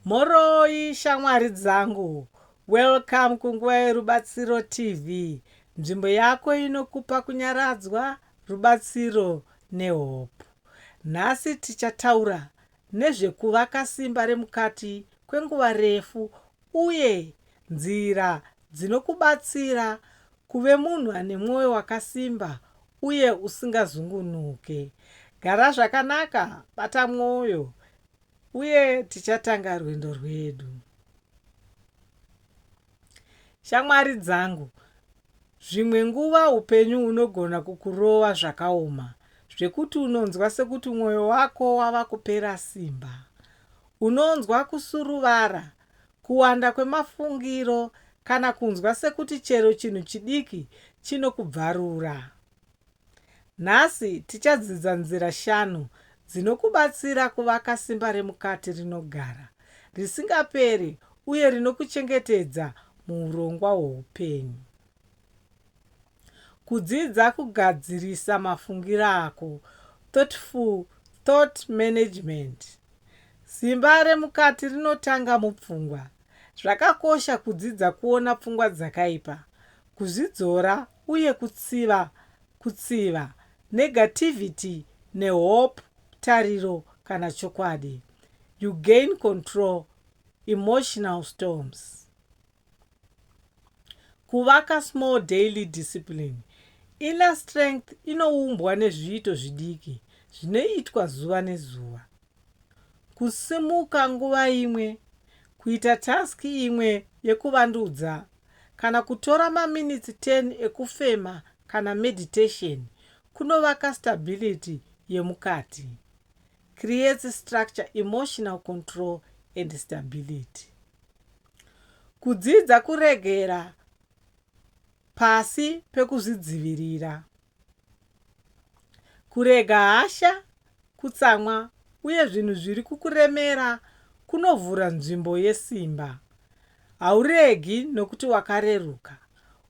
Mhoroi shamwari dzangu, welcome kunguva yerubatsiro TV, nzvimbo yako inokupa kunyaradzwa, rubatsiro nehope. Nhasi tichataura nezvekuvaka simba remukati kwenguva refu uye nzira dzinokubatsira kuve munhu ane mwoyo wakasimba uye usingazungunuke. Gara zvakanaka, bata mwoyo, Uye tichatanga rwendo rwedu. Shamwari dzangu, zvimwe nguva upenyu hunogona kukurova zvakaoma zvekuti unonzwa sekuti mwoyo wako wava kupera simba. Unonzwa kusuruvara, kuwanda kwemafungiro kana kunzwa sekuti chero chinhu chidiki chinokubvarura. Nhasi tichadzidza nzira shanu dzinokubatsira kuvaka simba remukati rinogara, risingaperi uye rinokuchengetedza muurongwa hwoupenyu. Kudzidza kugadzirisa mafungiro ako, Thoughtful Thought Management. Simba remukati rinotanga mupfungwa. Zvakakosha kudzidza kuona pfungwa dzakaipa, kuzvidzora uye kutsiva kutsiva, negativity, nehope, tariro kana chokwadi. You gain control emotional storms. Kuvaka small daily discipline. Inner strength inoumbwa nezviito zvidiki zvinoitwa zuva nezuva. kusimuka nguva imwe, kuita task imwe yekuvandudza, kana kutora maminitsi 10 ekufema kana meditation kunovaka stability yemukati, creates structure, emotional control and stability. Kudzidza kuregera pasi pekuzvidzivirira. Kurega hasha, kutsamwa, uye zvinhu zviri kukuremera kunovhura nzvimbo yesimba. Hauregi nokuti wakareruka.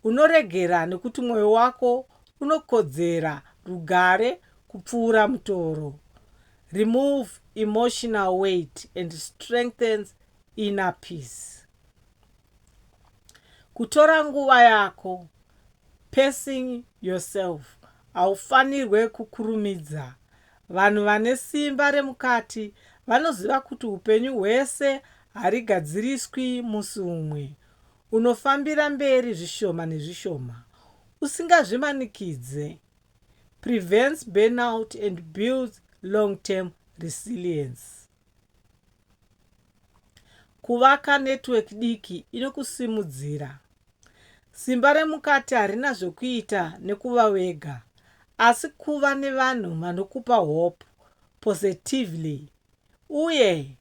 Unoregera nokuti mwoyo wako unokodzera rugare kupfuura mutoro. Remove emotional weight and strengthens inner peace. Kutora nguva yako, Pacing yourself, haufanirwe kukurumidza. Vanhu vane simba remukati vanoziva kuti upenyu hwese harigadziriswi musi umwe. Unofambira mberi zvishoma nezvishoma, usingazvimanikidze. Prevents burnout and builds long-term resilience. Kuvaka network diki inokusimudzira. Simba remukati harina zvekuita nekuva wega asi kuva nevanhu vanokupa hope positively uye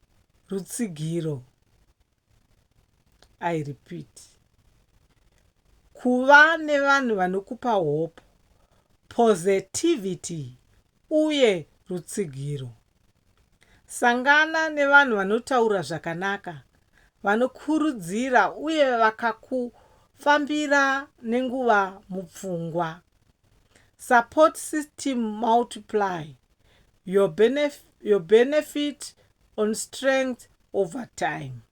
rutsigiro. I repeat. Kuva nevanhu vanokupa hope positivity uye rutsigiro. Sangana nevanhu vanotaura zvakanaka, vanokurudzira uye vakakufambira nenguva mupfungwa. Support system multiply your benefit, your benefit on strength over time.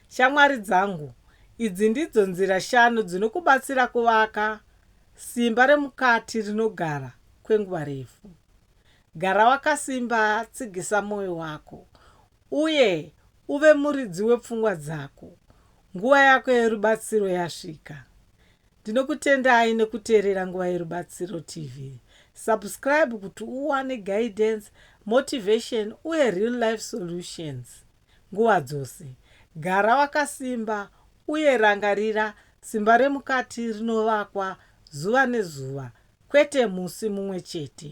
Shamwari dzangu, idzi ndidzo nzira shanu dzinokubatsira kuvaka simba remukati rinogara kwenguva refu. Gara wakasimba, tsigisa mwoyo wako, uye uve muridzi wepfungwa dzako. Nguva yako yerubatsiro yasvika. Ndinokutendai nekuteerera Nguva Yerubatsiro TV. Subscribe kuti uwane guidance, motivation uye real life solutions nguva dzose. Gara wakasimba uye rangarira simba remukati rinovakwa zuva nezuva kwete musi mumwe chete.